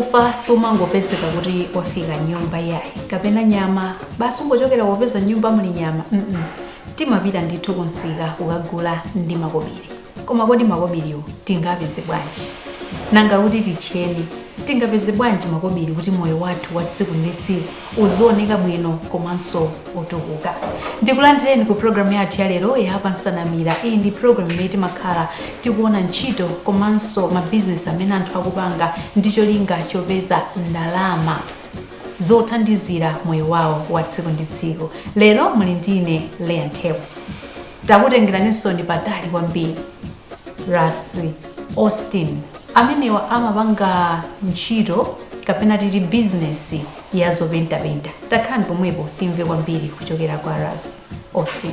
ufa sumangopezeka kuti wafika m'nyumba yayi kapena nyama basi ungochokera kopeza m'nyumba muli nyama mm -mm. timapita ndithu kumsika kukagula ndi makobiri koma kodi makobiriwo tingapeze bwanji nanga kuti titcheni tingapeze bwanji makobiri kuti moyo wathu wa tsiku ndi tsiku uzioneka bwino komanso otukuka ndikulandireni ku programu yathu ya lero ya pansanamira iyi ndi programu imene timakhala tikuona ntchito komanso mabizinesi amene anthu akupanga ndi cholinga chopeza ndalama zothandizira moyo wawo wa tsiku ndi tsiku lero muli ndine leya mthewa Takutengeraninsoni patali kwambiri. Ras Austin, amenewa amapanga ntchito kapena titi bizinesi ya zopentapenta. Takhalani pomwepo timve kwambiri kuchokera kwa Ras Austin.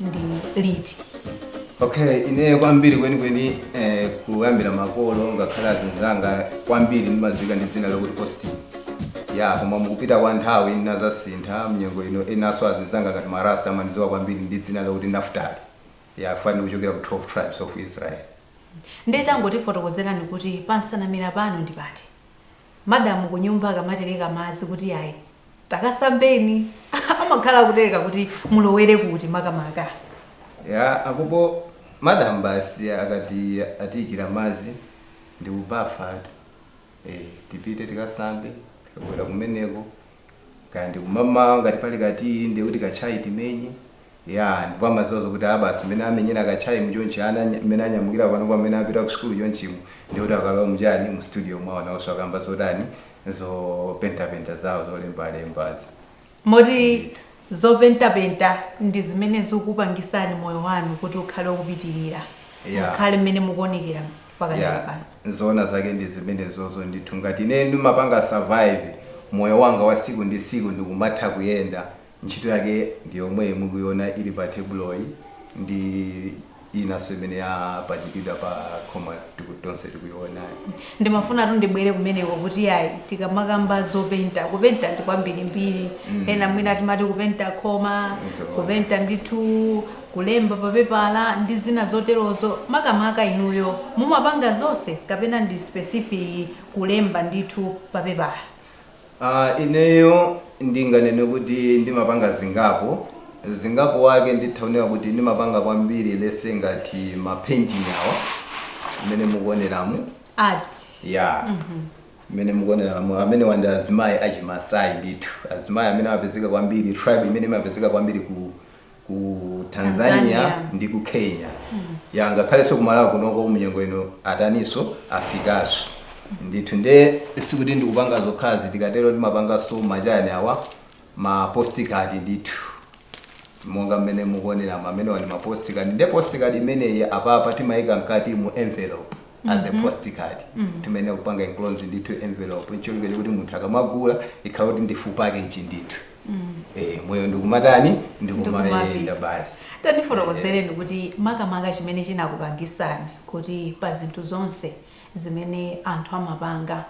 ndi liti okay ineyo kwambiri kwenikweni eh, kuyambira makolo ngakhale azinzanga kwambiri ndimadziwika ndi dzina lokuti austin ya koma mukupita kwa nthawi ndinazasintha mnyengo ino enanso azinzanga ngati marasta amandidziwa kwambiri ndi dzina lokuti naftali ya fanini kuchokera ku 12 tribes of israel ndiye tangotifotokozerani kuti pansanamira pano ndi pati madam kunyumba akamatereka madzi kuti ayi takasambeni amakhala akutereka kuti mulowere kuti makamaka ya akupo madam basi akati atiyikira madzi ndikubafatu eh, tipite tikasambe tikabwera kumeneko kaya ndi kumamawa ngati pali ka tiyi ndiye kuti ka tchai timenye ya ndipo amadziwa zokuti a basi mmene amenyera ka tchai mu chonchi ana nya- mmene anyamukira pano kwa mmene apita ku sukulu chonchimo ndiye kuti akalowa muchani mu studio mwawo nawonso akamba zotani zopentapenta zawo zolembalembazi moti zopentapenta ndi zimene zikupangisani moyo wanu kuti ukhale okupitirira Yeah. ukhale mmene mukuonekera Yeah, mpakana pano. zoona zake ndi zimenezozo ndithu. Ngati ineyo ndimapanga survive moyo wanga wa tsiku ndi tsiku ndikumatha kuyenda, ntchito yake ndi yomweyi mukuiona ili pa tebuloyi ndi inanso imene yapachikidwa pa khoma tiku, tonse tikuionayi. Ndimafunatu ndibwere kumeneko kuti yayi tikamakamba zopenta, kupenta ndi kwambirimbiri. Mm. Ena mwina timati kupenta khoma, Zoona. kupenta ndithu kulemba pa pepala ndi zina zoterozo, makamaka inuyo mumapanga zonse kapena ndi specific kulemba ndithu pa pepala? A, Ineyo ndinganene kuti ndimapanga zingapo, zingapo wake nditha kunena kuti ndimapanga kwambiri let's say ngati ma painting awa mmene mukuoneramu, Art, yeah, mhm. mmene mukuoneramu amenewa ndi azimayi a chimasai ndithu, azimayi amene amapezeka kwambiri, tribe imene imapezeka kwambiri ku. ku Tanzania, Tanzania. ndi ku Kenya ya ngakhalenso ku Malawi kunoko munyengo ino ataniso afikaso ndithu nde sikuti ndikupanga zokhazi tikatero ndimapanganso machani awa ma postcard ndithu monga mmene mukuonera amenewa ndi ma postcard nde postcard imeneyi apapa timayika mkati mu envelope as a postcard timene kupanga enclose ndithu envelope ncholinga kuti munthu akamagula ikhale kuti ndi full package ndithu Eh, moyo ndikumatani ndikumayenda Ndikumapita. basi tandifotokozereni kuti makamaka chimene chinakupangisani kuti pa zinthu zonse zimene anthu amapanga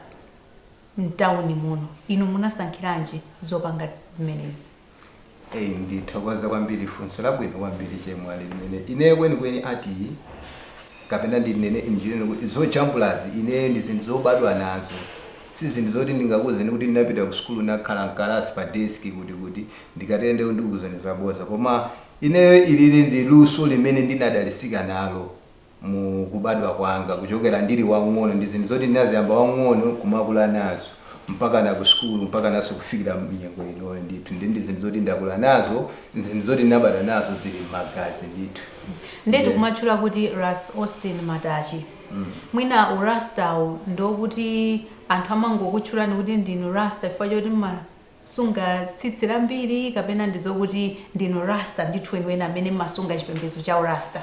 mtawuni muno inu munasankhiranji zopanga zimenezi Eh, ndithokoza kwambiri funso labwino kwambiri chemwali limene ineyo kwenikweni art kapena ndinene in general kuti zojambulazi ineyo ndi zinthu zobadwa nazo, si zinthu zoti ndingakuuzeni kuti ndinapita ku sukulu ndinakhala m'kalasi pa desk kuti kuti, ndikatero ndiye kuti ndikuuzani zabodza. Koma ineyo ilili ndi luso limene ndinadalitsika nalo mu kubadwa kwanga kuchokera ndili wamng'ono, ndi zinthu zoti ndinaziyamba wamng'ono n'kumakula nazo. mpakana ku sukulu mpakananso kufikira munyengo inoyo ndithu ndi ndi zinthu zoti ndakula nazo zinthu zoti ndinabadwa nazo zili m'magazi ndithu ndetu Yeah. kumatchula kuti ras austin matachi mwina urastawo ndiokuti anthu amangokutchulani kuti ndinu rasta chifukwa choti mma- sunga tsitsi lambiri kapena ndi zokuti ndinu Rasta ndithu weniweni amene mmasunga chipembedzo cha u Rasta?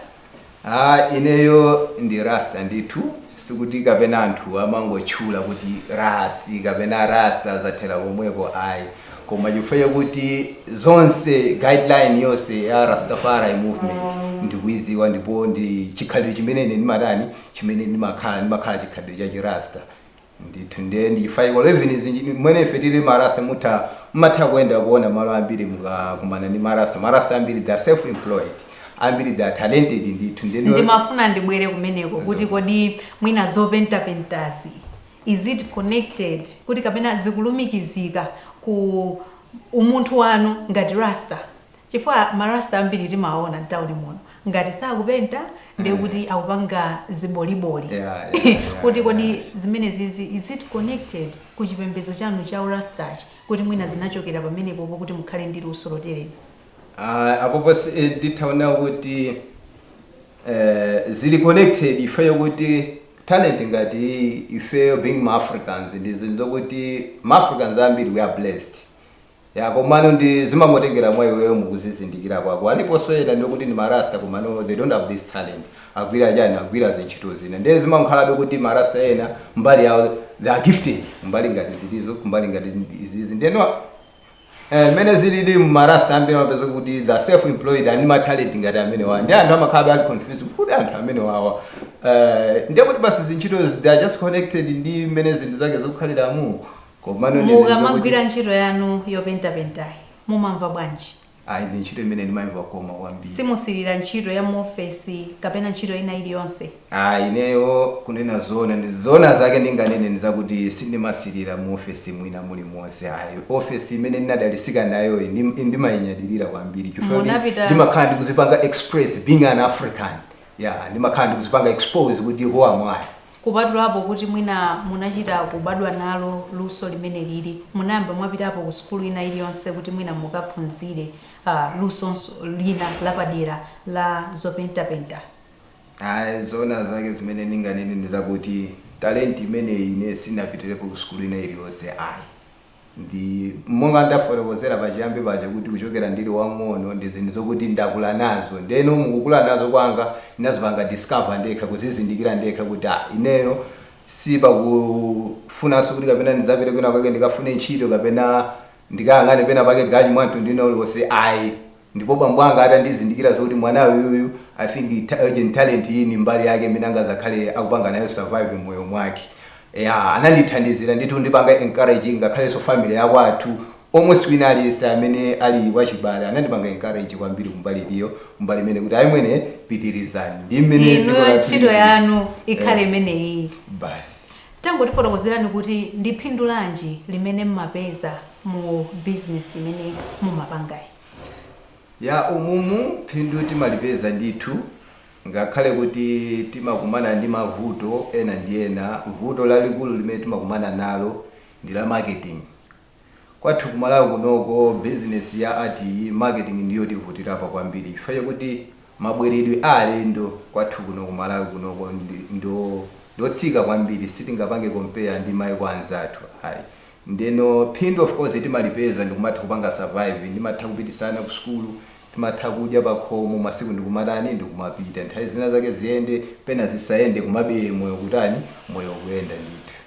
Aaa ineyo ndi Rasta ndithu, sikuti kapena anthu amangotchula kuti Ras kapena Rasta zathera pomwepo ayi, koma chifukwa chakuti zonse guideline yonse ya Rastafari movement ndikuiziwa ndipo ndi chikhalidwe chimene ine ndimatani chimene ndimakhala, ndimakhala chikhalidwe cha chi Rasta. Ndithu ndiye ndi chifukwa chake even zinji mmene ife tili marasta mutha mmatha kuenda kuona malo ambiri mukakumana ndi marasta marasta ambiri they are self employed ambiri they are talented ndithu ndiye nde ndimafuna ndibwere kumeneko kuti Zoona. kodi mwina zopentapentazi is it connected kuti kapena zikulumikizika ku umunthu wanu ngati rasta Chifukwa ma Rasta ambiri timaona mtauni muno, ngati sakupenta ndiye kuti akupanga ziboliboli. Yeah, yeah, yeah, Kuti kodi yeah. zimenezizi, is it connected ku chipembedzo chanu cha u Rastachi, kuti mwina zinachokera pamenepopo kuti mukhale ndi luso lotereli? Ah, apopo si- eh, nditha kunena kuti eh, zili connected ifeyo kuti talent ngati iyi, ifeyo being ma africans ndi zinthu zokuti ma africans ambiri we are blessed Ya komano ndi zimangotengera mwa iweyo mukuzizindikira kwako. Aliponso ena ndiye kuti ndi ma Rasta komano they don't have this talent. Agwira chani? Agwira zintchito zina. Ndiye zimankhalabe kuti ma Rasta ena mbali yawo they are gifted. Kumbali ngati zilizo, kumbali ngati izizi. Ndiye no Eh, mmene zilili ma Rasta ambiri amapeza kuti they are self employed and ma talent ngati amenewa. Ndiye anthu amakhala ali confused kuti anthu amenewawa. Eh, ndiye kuti basi zintchito they are just connected ndi mmene zinthu zake zikukhaliramu. Komano ndi zinthu zokuti Mukamagwira ntchito yanu yopentapentayi, mumamva bwanji? ayi ndi ntchito imene ndimaimva kukoma kwambiri. Simusirira ntchito ya muofesi kapena ntchito ina iliyonse? Ayi, ineyo kunena zoona ndi zoona zake ndinganene ndi zakuti sindimasirira muofesi mwina mulimonse ayi. Ofesi imene ndinadalisika nayoyi ndim- ndimainyadilira kwambiri chifukwa choti Munapita- ndimakhala ndikuzipanga express being an African. Yeah, ndimakhala ndikuzipanga expose kuti who am I? Kupatulapo kuti mwina munachita kubadwa nalo luso limenelili, munayamba mwapitapo ku sukulu ina iliyonse kuti mwina mukaphunzire lusonso lina lapadera la zopentapentazi? Ayi. Zoona zake zimene ndinganene ndi zakuti talenti imeneyi ine sindinapitirepo ku sukulu ina iliyonse ayi. Ndi monga ndafotokozera pachiyambi paja kuti kuchokera ndili wamng'ono ndi zinthu zokuti ndakula nazo. Ndeno mukukula nazo kwanga ndinazipanga discover ndekha, kuzizindikira ndekha kuti ah ineyo sipakufunanso kuti kapena ndidzapite kwina kwake ndikafune ntchito kapena ndikayang'ane pena pake ganyu wa mtundu wina uliwonse ayi. Ndipo bambo anga atandizindikira zokuti mwana uyuyu I think ta, art and talent iyi ndi mbali yake imene angazakhale akupanga nayo survive mmoyo mwake. Eya, anandithandizira ndithu kundipanga encourage ngakhalenso family ya kwathu almost wina aliyense amene ali wachibale anandipanga encourage kwambiri kumbali iliyo kumbali imene kuti ayi mwene pitirizani. Ndi mmene dziko Inuyo lathu ntchito lilili. yanu ikhale Eh, imeneyi. basi. Tangotifotokozerani kuti ndi phindu lanji limene mmapeza mu business imene mumapangayi? Yeah umumu phindu timalipeza ndithu ngakhale kuti timakumana ndi mavuto ena ndi ena, vuto lalikulu limene timakumana nalo ndi la marketing. Kwathu ku Malawi kunoko business ya art marketing ndiyo tivutirapo kwambiri chifukwa chakuti mabweredwe a alendo kwathu kuno ku Malawi kunoko ndi otsika kwambiri sitingapange compare ndi maiko anzathu ndeno phindu of course timalipeza ndikumatha kupanga survive timatha kupititsa ana ku sukulu timatha kudya pakhomo masiku ndikumatani ndikumapita nthawi zina zake ziyende pena zisayende komabe moyo ukutani moyo ukuyenda ndithu.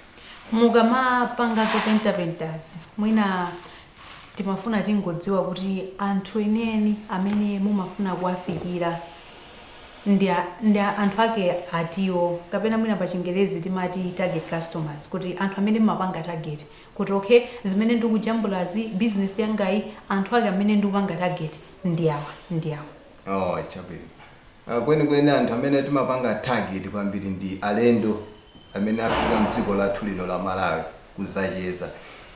Mukamapanga zopentapentazi, mwina timafuna tingodziwa kuti anthu enieni amene mumafuna kuwafikira ndi a- ndi a- anthu ake atiwo kapena mwina pa chingerezi timati target customers kuti anthu amene mmapanga target kuti okay zimene ndikujambulazi business yangayi anthu ake amene ndikupanga target ndi awa ndi awa Oh, chabwino. Ah, Kwenikweni anthu amene timapanga target kwambiri ndi alendo amene afika mdziko lathu lino la Malawi kudzacheza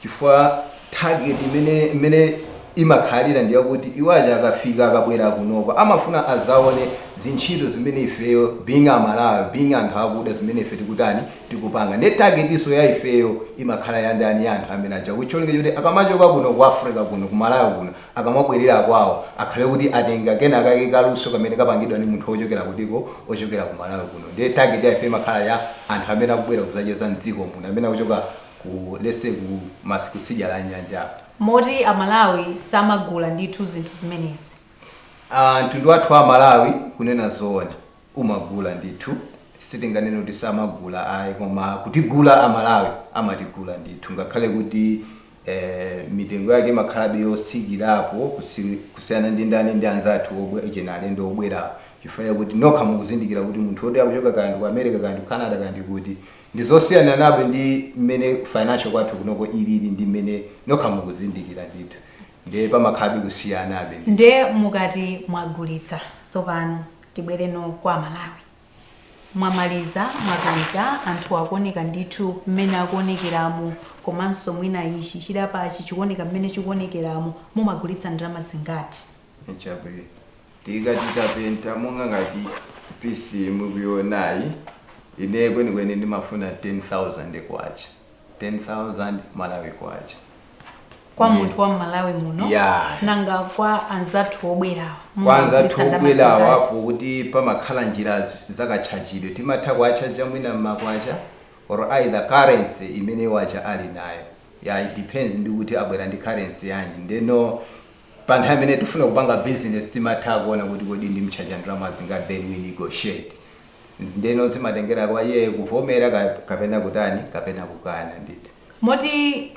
chifukwa target imene imene imakhalira ndi yakuti iwo aja akafika akabwera kunoko amafuna adzaone zintchito zimene ifeyo being Amalawi being anthu akuda zimene ife tikutani tikupanga ndiye targetinso ya ifeyo imakhala ya ndani ya anthu amene aja ndi cholinga choti akamachoka kuno ku Africa kuno ku Malawi kuno akamabwerera kwawo akhale kuti atenga kenakake kaluso kamene kapangidwa ndi munthu ochokera kutiko ochokera ku Malawi kuno ndiye target ya ife imakhala ya anthu amene akubwera kuzacheza m'dziko muno amene akuchoka ku let's say kumatsidya la nyanja moti amalawi samagula ndithu zinthu zimenezi Ah, mtundu wathu wa Amalawi kunena zoona umagula ndithu sitinganene kuti samagula ayi koma kutigula amalawi amatigula ndithu ngakhale kuti mitengo yake imakhalabe yotsikirapo kusiyana ndi ndani ndi anzathu alendo obwera chifukwa chakuti nokha mukuzindikira kuti munthu woti akuchoka kaya ndi ku America kaya ndi ku Canada kaya ndi kuti ndi zosiyanabe ndi mmene financial kwathu kunoko ilili ndi mmene nokha mukuzindikira ndithu ndiye pamakhalabe kusiyanabe ndithu. Ndiye mukati mwagulitsa tsopano tibwereno kwa Amalawi. Mwamaliza mwapenta anthuwa akuoneka ndithu mmene akuonekeramu komanso mwina ichi chidapachi chikuoneka mmene chikuonekeramu mumagulitsa ndalama zingati? Chabwino tikati tikapenta monga ngati piece iyi mukuionayi ineyo kwenikweni ndimafuna K10,000. 10,000 Malawi Kwacha. Kwa Ndiye- munthu wa m'Malawi muno Yeah. nanga kwa anzathu obwerawa Kwa anzathu mumagwiritsa ndalama obwerawa zingati? poti pamakhala njira z- zakatchajidwe timatha kuwatchaja mwina m'makwacha or either currency imene iwo aja ali nayo yeah, it depends ndi kuti abwera ndi currency yanji ndeno pa nthawi imene tifuna kupanga business timatha kuona kuti kodi ndimtchaja ndalama zingati then we negotiate Ndeno zimatengera kwa iyeyo kuvomera kapena kutani kapena kukana ndithu. Moti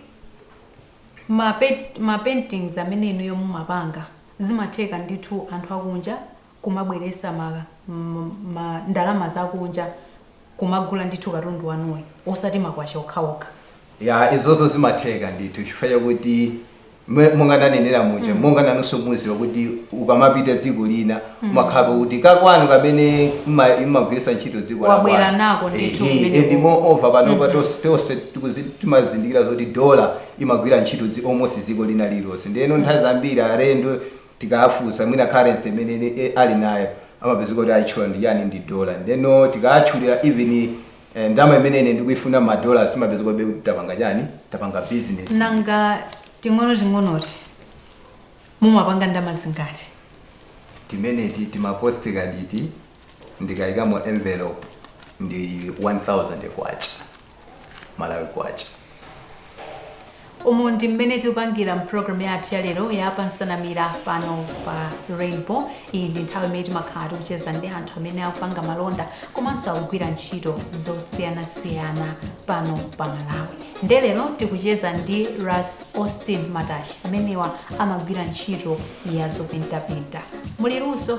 ma paintings amene inuyo mumapanga zimatheka ndithu anthu akunja kumabweresa ma ndalama zakunja kumagula ndithu katundu wanuyu osati makwacha okhaokha? Ya, izozo zimatheka ndithu chifukwa chakuti mwe- monga ndanenera muja monga nanunso muziwa kuti ukamapita dziko lina umakhala kuti kakwanu kamene mma- mmagwiritsa ntchito dziko la Wabwera kwanu. nako ndithu Ehe, kumeneko. and moreover panopa tonse timazindikira zoti dola imagwira ntchito dzi- almost dziko lina lilonse ndiyeno nthawi zambiri alendo tikawafunsa mwina currency imene eh, ali nayo amapezeka kuti ayitchula ndi yani ndi dola ndeno tikawatchulira even Eh, ndalama imene ine ndikuifuna ma dollars timapezekabe kuti tapanga chani? Tapanga business. nanga ting'onoting'onoti mumapanga ndalama zingati Timeneti tima postcard iti ndikaikamo envelope ndi 1000 kwacha. Malawi kwacha. umu ndi mmene tikupangira mpulogalamu yathu ya lero ya pa nsanamira pano pa rainbow iyi ndi nthawi imene timakhala tikucheza ndi anthu amene akupanga malonda komanso akugwira ntchito zosiyanasiyana pano pa malawi nde lero tikucheza ndi ras austin matachi amenewa amagwira ntchito ya zopentapenta mwaluso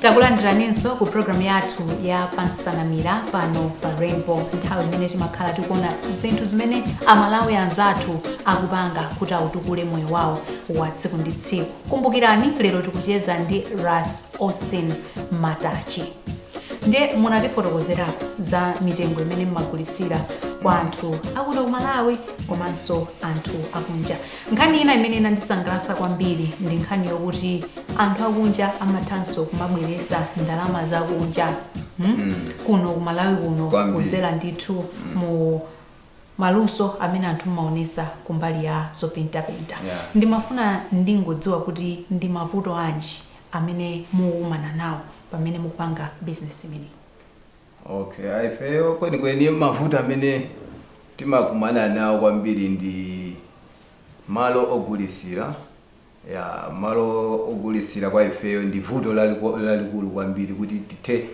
takulandiraninso ku programu yathu ya pa nsanamira pano pa rainbow nthawi imene timakhala tikuona zinthu zimene amalawi anzathu akupanga kuti atukule moyo wawo wa tsiku ndi tsiku kumbukirani lero tikucheza ndi ras austin matachi ndiye munatifotokozerapo za mitengo imene mmagulitsira kwa anthu akuno ku malawi komanso anthu akunja Nkhani ina imene inandisangalatsa kwambiri ndi nkhani yokuti anthu akunja amathanso kumabweretsa ndalama zakunja hmm? kuno ku Malawi kuno Kwambiri. kudzera ndithu mu maluso amene anthu mmaonesa kumbali ya zopentapenta Yeah. ndimafuna ndingodziwa kuti ndi mavuto anji amene mukumana nawo pamene mukupanga business imeneyi Okay, ah, ifeyo kwenikweni mavuto amene timakumana nawo kwambiri ndi malo ogulitsira ya malo ogulitsira kwa ifeyo ndi vuto laliko- lalikulu kwambiri kuti tithe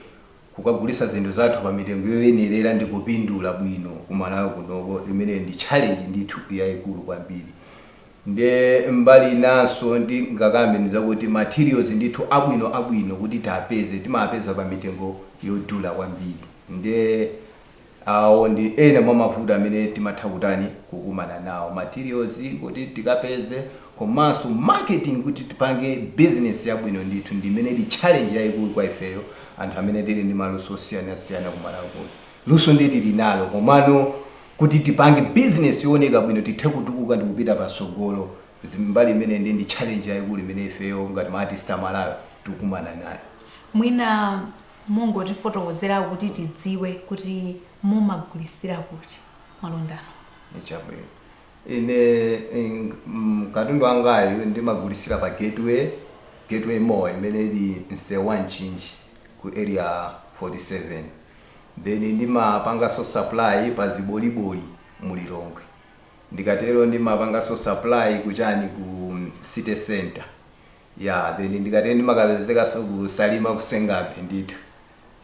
kukagulitsa zinthu zathu pa mitengo yoyenerera ndi kupindula bwino kumalawi kunoko imene ndi challenge ndithu yayikulu kwambiri Nde mbali inanso ndingakambe ndizakuti materials ndithu abwino abwino kuti tiapeze timaapeza pa mitengo yodula kwambiri nde awo ndi ena mwa mavuto amene timatha kutani kukumana nawo materials kuti tikapeze komanso marketing kuti tipange business yabwino ndithu ndi imene ndi challenge yaikulu kwa ifeyo anthu amene tili ndi maluso osiyanasiyana ku Malawi kuno. Luso nde tili nalo komano. Kuti tipange business yooneka bwino tithe kutukuka ndikupita patsogolo zi mbali imeneyi ndiye ndi challenge yaikulu imene ifeyo ngati ma artist a Malawi tikukumana nayo. Mwina mungotifotokozera kuti tidziwe kuti mumagulitsira kuti malonda anu? Chabwino. Ine katundu wangayu ndimagulitsira pa Gateway, Gateway Mall imene ili msewu wa Mchinji ku Area 47. Then ndimapanganso supply pa Ziboliboli mu Lilongwe. Ndikatero ndimapanganso supply ku chani ku city centre. Yeah then ndikatero ndimakapezekanso ku Salima ku Senga Bay ndithu.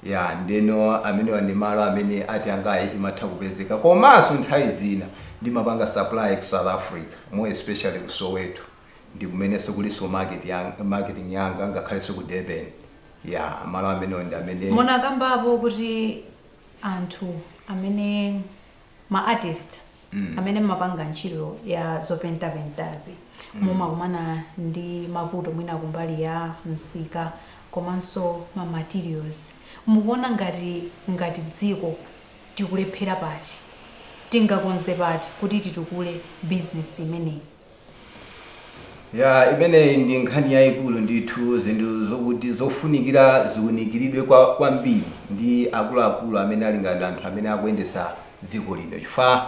Yeah ndeno amenewa ndi malo amene art yangayi imatha kupezeka. Komanso nthawi zina ndimapanga supply ku South Africa more especially ku Soweto. Ndikumenenso kulinso market yang, marketing yanga ngakhalenso ku Durban. Yeah, malo amenewo. Nde munakambapo kuti anthu amene ma artist amene mmapanga ntchito ya zopentapentazi mumakumana ndi mavuto mwina kumbali ya msika komanso ma materials mukuona ngati ngati dziko tikulephera pati tingakonze pati kuti titukule business imeneyi Ya, imeneyi ndi nkhani yayikulu ndithu, zinthu zokuti zofunikira ziwunikiridwe kwambiri ndi akuluakulu amene ali ngati anthu amene akuyendetsa dziko lino chifukwa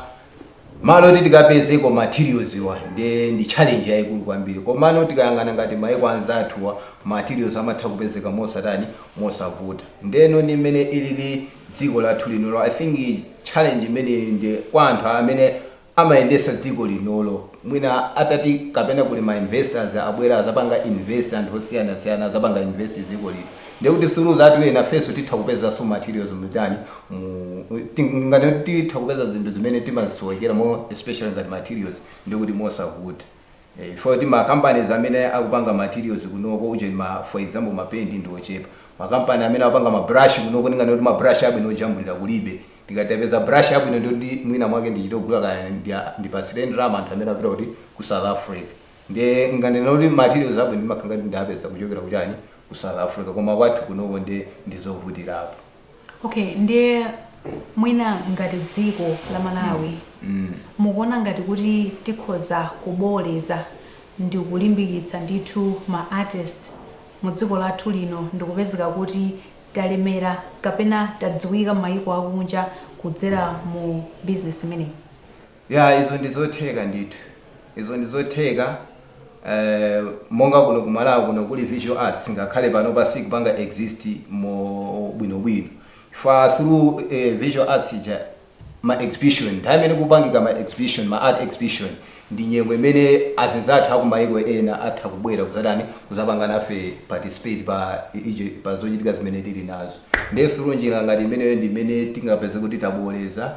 malo oti tikapezeko materials'wa nde ndi challenge yayikulu kwambiri komano tikayang'ana ngati mayiko anzathuwa materials amatha kupezeka mosatani, mosavuta ndeno ndi m'mene ilili dziko lathu lino I think challenge imeneyi nde kwa anthu amene amayendesa dziko linolo mwina atati kapena kuli ma investors abwera azapanga invest anthu osiyanasiyana azapanga invest dziko lino ndekuti through that way nafeso titha kupezaso materials mutani mu tinganene kuti titha kupeza zinthu zimene timasowekera more especially ngati materials ndekuti mosavuta eh, chifukwa choti ma companies amene akupanga materials kunoko ujeni ma for example ma paint ndi ochepa makampani amene akupanga ma brush kunoko ndinganene kuti ma brush abwino ojambulira kulibe Ndikati ndipeze brush yabwino ndiye kuti mwina mwake ndichite kugula kaya ndipasire ndalama anthu amene apita kuti ku South Africa ndiye ndinganene kuti materials abwino ndimakhala ngati ndapeza kuchokera ku chani ku South Africa koma kwathu kunoko ndiye ndizovutirapo. Okay, ndiye mwina ngati dziko la Malawi Mm. mukuona ngati kuti tikhoza kubooleza ndi kulimbikitsa ndithu ma artist mu dziko lathu lino ndikupezeka kuti talemera kapena tadziwika mmayiko akunja kudzera mu business imeneyi? Yeah, izo ndizotheka ndithu. Izo ndizotheka eeh monga kuno ku Malawi kuno kuli visual arts ngakhale panopa siikupanga exist mo bwinobwino chifukwa through eeh visual arts ija ma exhibition, nthawi imene kupangika ma exhibition, ma art exhibition ndi nyengo imene azinzathu aku maiko ena atha kubwera kuzatani kuzapanga nafe participate pa ichi pa zochitika zimene tili nazo nde through njira ngati imeneyo ndi imene tingapeze kuti tabooleza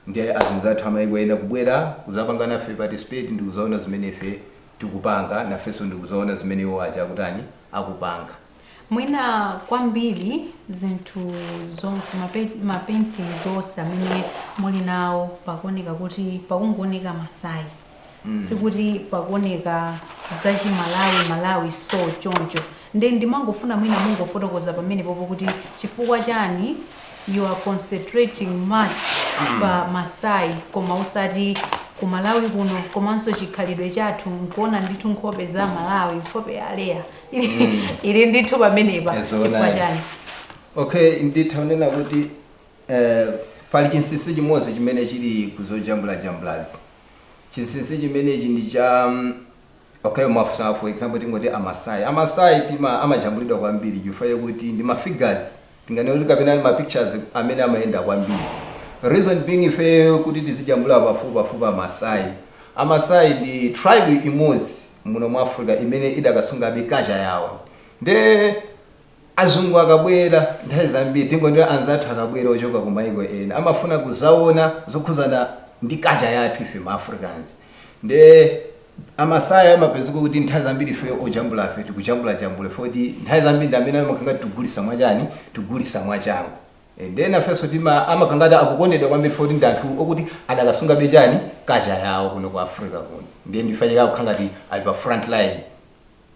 ndi azinzathu amaiko ena kubwera kuzapanga nafe participate ndikuzaona zimene ife tikupanga nafenso ndikuzaona zimene iwo aja akutani akupanga. Mwina kwambiri zinthu zonse ma paintings onse amene muli nawo pakuoneka kuti pakungooneka Masai mm. sikuti pakuoneka zachimalawi malawi so choncho nde ndimangofuna mwina mungofotokoza pamenepopo kuti chifukwa chani you are concentrating much mm. pa Masai koma usati ku Malawi kuno komanso chikhalidwe chathu nkuona ndithu nkhope za Malawi nkhope ya Leya ili ndithu pamenepa Yes, chifukwa chani? Alright. Okay nditha kunena kuti eh, pali chinsinsi chimodzi chimene chili kuzojambulajambulazi chinsinsi chimenechi ndi cha mm, okay mwafunsa for example tingoti amasai amasai tima amajambulidwa kwambiri chifukwa chakuti ndi ma figures Tinganene kuti kapena ma pictures amene amayenda kwambiri reason being ifeyo kuti tizijambula pafupipafupi amasai, amasai ndi tribe imodzi muno mu Africa imene idakasungabe culture yawo nde azungu akabwera nthawi zambiri tingonena anzathu akabwera ochoka ku maiko ena amafuna kuzaona zokhudzana ndi culture yathu ife ma Africans nde Amasai amapezeka kuti nthawi zambiri ifeyo ojambulafe tikujambulajambula chifukwa choti nthawi zambiri ndi amene amakhala ngati tikugulitsa mwachani, tikugulitsa mwachangu. Eh, ndiye nafenso tima, amakhala ngati akukondedwa kwambiri chifukwa choti ndi anthu okuti adakasungabe chani, culture yawo kuno ku Africa kuno. Ndiye ndi chifukwa chake akukhala ngati ali pa front line.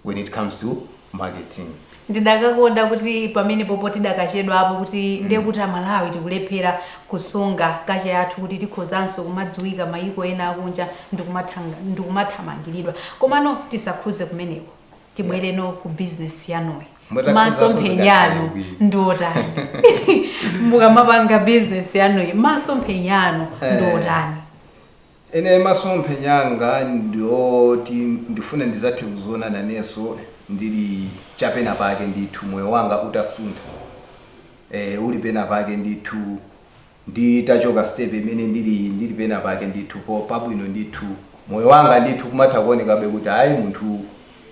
when it comes to marketing. ndidakakonda kuti pamenepopo tidakachedwapo kuti ndiye kuti amalawi tikulephera kusunga culture yathu kuti tikhozanso kumadziwika mayiko ena akunja ndikumathanga- ndikumathamangiridwa komano tisakhuze kumeneko tibwerenso ku business yanuyi Mutakhudzanso masomphenya anu zikakhala bwino. ndiotani mukamapanga business yanuyi masomphenya anu Eh. ndiotani Ine masomphenya anga ndi oti ndifuna ndidzathe kudziona nanenso ndili cha pena pake ndithu moyo wanga utasuntha eeh uli pena pake ndithu nditachoka step imene ndiliyi ndili pena pake ndithu pabwino ndithu moyo wanga ndithu kumatha kuonekabe kuti ayi munthu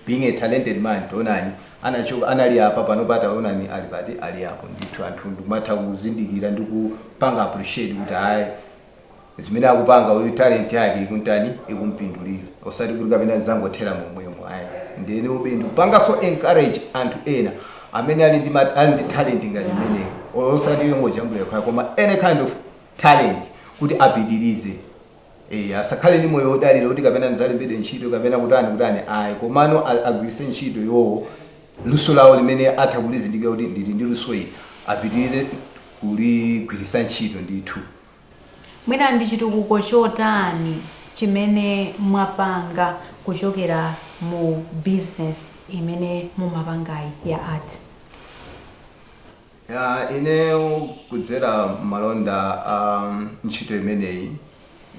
being a talented man taonani anachoka anali apa panopa taonani ali pati ali apo ndithu anthu ndikumatha kuzindikira ndi kupanga appreciate kuti ayi zimene akupanga uyu talent yake ikuntani ikumpindulira osati kuti kapena zangothera momwemo ayi ndiyenenso ndi kupanganso encourage anthu ena amene ali ndi ma- ali ndi talent ngati imeneyo Or osati yongojambula yokhayo koma any kind of talent kuti apitirize Eh, asakhale ndi moyo wodalira kuti kapena ndidzalembedwe ntchito kapena kutani kutani ayi komano a- agwiritse ntchito iwowo luso lawo limene atha kulizindikira kuti ndili ndi luso ili apitirize kuligwiritsa ntchito ndithu Mwina ndi chitukuko chotani chimene mwapanga kuchokera mu business imene mumapangayi ya art? Yeah, ineyo kudzera mmalonda a ntchito imeneyi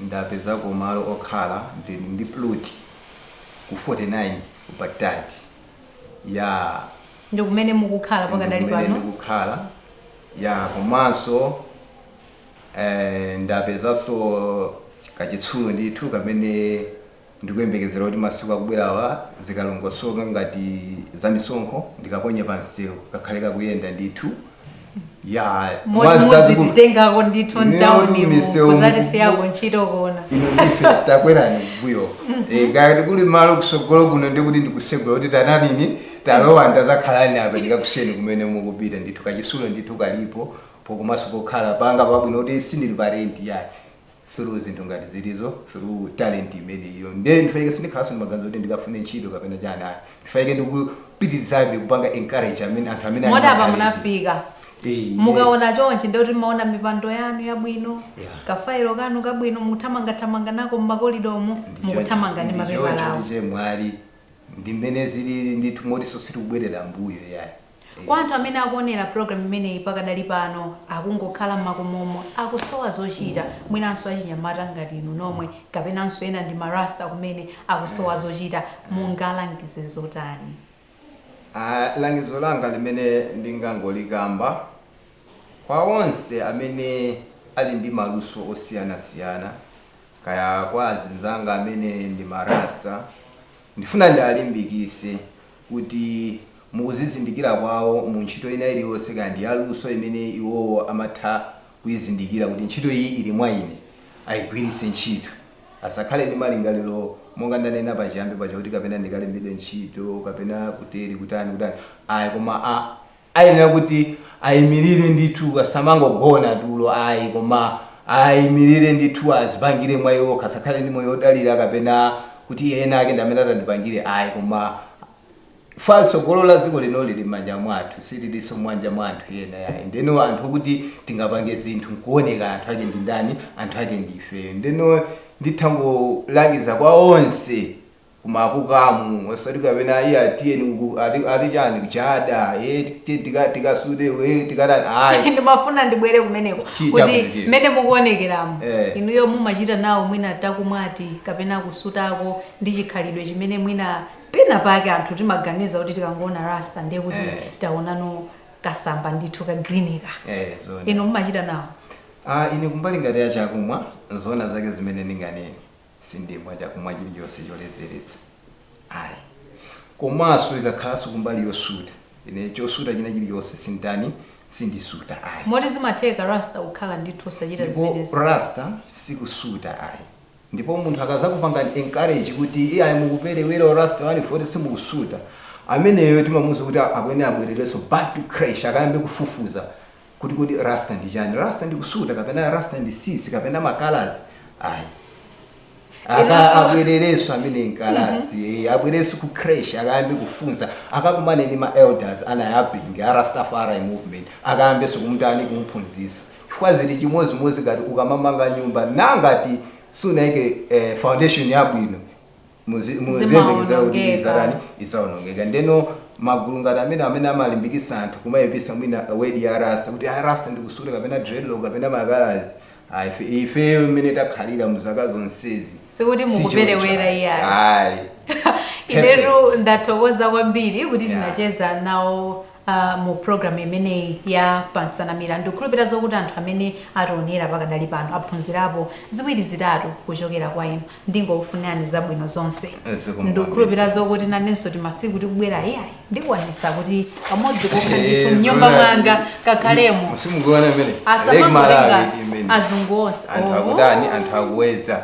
ndapezako malo okhala, ndili ndi plot ku 49 ku Baghdad. Yeah. Ndi kumene mukukhala pakadali pano? Ndi kumene ndikukhala, yeah, komanso. Ndapezanso kachitsulo ndithu kamene ndikuyembekezera kuti masiku akubwerawa zikalongosoka ngati zamisonkho ndikaponye pa msewu kakhale kakuyenda ndithu. Yaa, Moti mwazi zazikulu. muzititengako ndithu Ineyo mtauni mu misewu mu- kuzatisiyako ntchito kuona Ino ndife takwerani mbuyo. Eh, ngati kuli malo kusogolo kuno ndi kuti ndikusegula kuti tananini talowa ndazakhalani apa ndikakusiyeni kumene mukupita ndithu kachitsulo ndithu kalipo komanso pokhala panga pabwino kuti sindili pa rent iyayi through zinthu ngati zimenezo through talent imeneyo nde in fact sindikhalanso ndi maganizo kuti ndikafune ntchito kapena chani ayi in fact ndikupitirizabe kupanga encourage amene anthu amene ali moti ndi apa talent. munafika Eh, mukaona chonchi ndekuti mmaona mipando yanu yabwino Yeah. kafailo kanu kabwino muthamangathamanga nako mmakolidomo Ndicho- mukuthamanga ndi ndicho- mapepalawo ndicho mwina ndi mmene zilili ndithu motinso sitikubwerera mbuyo yayi Kwa anthu amene akuonera program imeneyi pakadali pano akungokhala mmakomomo akusowa zochita mwinanso achinyamata ngati inu nomwe kapenanso ena ndi ma Rasta kumene akusowa zochita mungalangize zotani? Langizo langa limene ndingangolikamba kwa onse amene ali ndi maluso osiyanasiyana kaya kwa azinzanga amene ndi ma Rasta ndifuna ndialimbikise kuti mu kuzizindikira kwawo mu ntchito ina iliyonse, kaya ndi yaluso imene iwowo amatha kuizindikira kuti ntchito iyi ili mwa ine, ayigwiritse ntchito. Asakhale ndi malingaliro monga ndanena pachiyambi paja kuti kapena ndikalembedwe ntchito kapena kuteri kutani kutani ayi koma a. Ayenera kuti aimilire ndithu asamangogona tulo ayi koma aimilire ndithu azipangire mwa iwo okha asakhale ndi moyo odalira kapena kuti ena ake ndi amene atandipangire ayi koma far tsogolo la dziko lino lili m'manja mwathu sililinso m'manja mwa anthu ena yayi ndeno anthu okuti tingapange zinthu nkuoneka anthu ake ndi ndani anthu ake ndife ndeno ndithangolangiza kwa onse kumakukamu osati kapena iya tiyeni uku ati ati chani kuchada eh ti- tika tikasude eh tikatani ayi ndimafuna ndibwere kumeneko Chita kuti kumeneko. mmene mukuonekeramo Eh. inuyo mumachita nawo mwina takumwati kapena kusutako ndi chikhalidwe chimene mwina pena pake anthu timaganiza kuti tikangoona rasta ndiye kuti Eh. taonano kasamba ndithu ka greenika eh zona inu mumachita nawo Ah, ine kumbali ngati ya chakumwa zona zake zimene ndinganene sindimwa chakumwa chilichonse choledzeretsa ayi komanso ikakhalanso kumbali yosuta ine chosuta china chilichonse sinditani sindisuta ayi moti zimatheka rasta kukhala ndithu osachita ndipo zimenezi rasta sikusuta ayi ndipo munthu akazakupangani encourage kuti iyayi mukuperewera rasta wanu poti simukusuta ameneyo timamuuza kuti akuyenera abwererenso back to creche akayambe kufufuza kuti kodi rasta ndi chani rasta ndi kusuta kapena rasta ndi tsitsi kapena makalazi ayi aka Inanso- abwererenso amene nkalasi eh, abwererenso ku creche akayambe kufunsa akakumane ndi ma elders a Nyabinghi a rastafari movement akayambenso kumtani kumphunzisa chifukwa zili chimodzimodzi ngati ukamamanga nyumba nangati sunayike eh, foundation yabwino muzi- muziyembekeza kuti Zimaonongeka. idzatani idzaonongeka ndeno magulu ngati amene amene amalimbikitsa anthu kumayipisa mwina wedi ya rasta kuti a rasta ndikusuta kapena dreadlock kapena makalazi Ah, ife- ifeyo mmene takhalira mu zaka zonsezi Sikuti si mukuperewera choncho. iyayi. Ayi. inetu ndathokoza kwambiri kuti Yeah. tinacheza nawo a Mu program imeneyi ya pa Nsanamira ndikukhulupira zokuti anthu amene ationera pakadali pano aphunzirapo ziwiri zitatu kuchokera kwa inu. Ndingokufunirani zabwino zonse. Zikomo kwambiri. Ndikukhulupira zokuti nanenso timasiku tikubwera iyayi ndikwanitsa kuti pamodzi kokha ndithu Eh, mnyumba zoona. mwanga kakhalemo. Simukuona imene? Lake Malawi Asamangotenga imene. azungu onse. Anthu Oh. akutani, anthu akuwedza.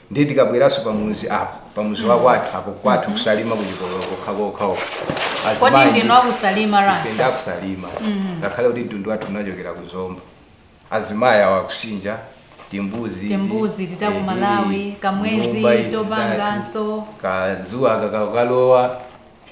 ndiye tikabweranso pamuzi apa pamuzi wakwathu apo kwathu kusalima kuchipululu kokhakokha uko kodi Azimayi ndinu akusalima ife rasta ndakusalima ngakhale kuti mtundu wathu unachokera ku zomba azimayi awa akusinja timbuzi Timbuzi, tatiku Malawi, kamwezi, topanganso. kazuwa kakalowa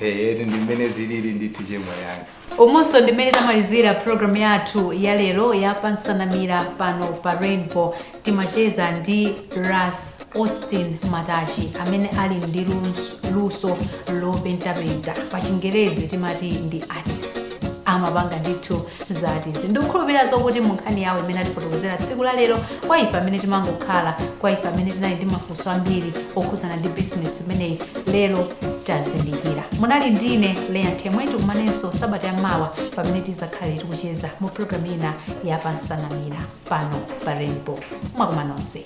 Eyetu ndi mmene zilili ndithu chemwali anga. umonso ndi mmene tamalizira program yathu ya lero ya pansanamira pano pa rainbow timacheza ndi ras austin matachi amene ali ndi lus- luso lopentapenta pa chingerezi timati ndi artist amapanga ndithu za artist ndikukhulupirira zokuti mu nkhani yawo imene atifotokozera tsiku la lero kwa ife amene timangokhala kwa ife amene tinali ndi mafunso ambiri okhudzana ndi bizinesi imeneyi lero tazindikira munali ndine leya nthemwe tikumanenso sabata ya mawa pamene tizakhale tikucheza mu programu ina ya pansanamira pano pa rainbow mwa kuma nonse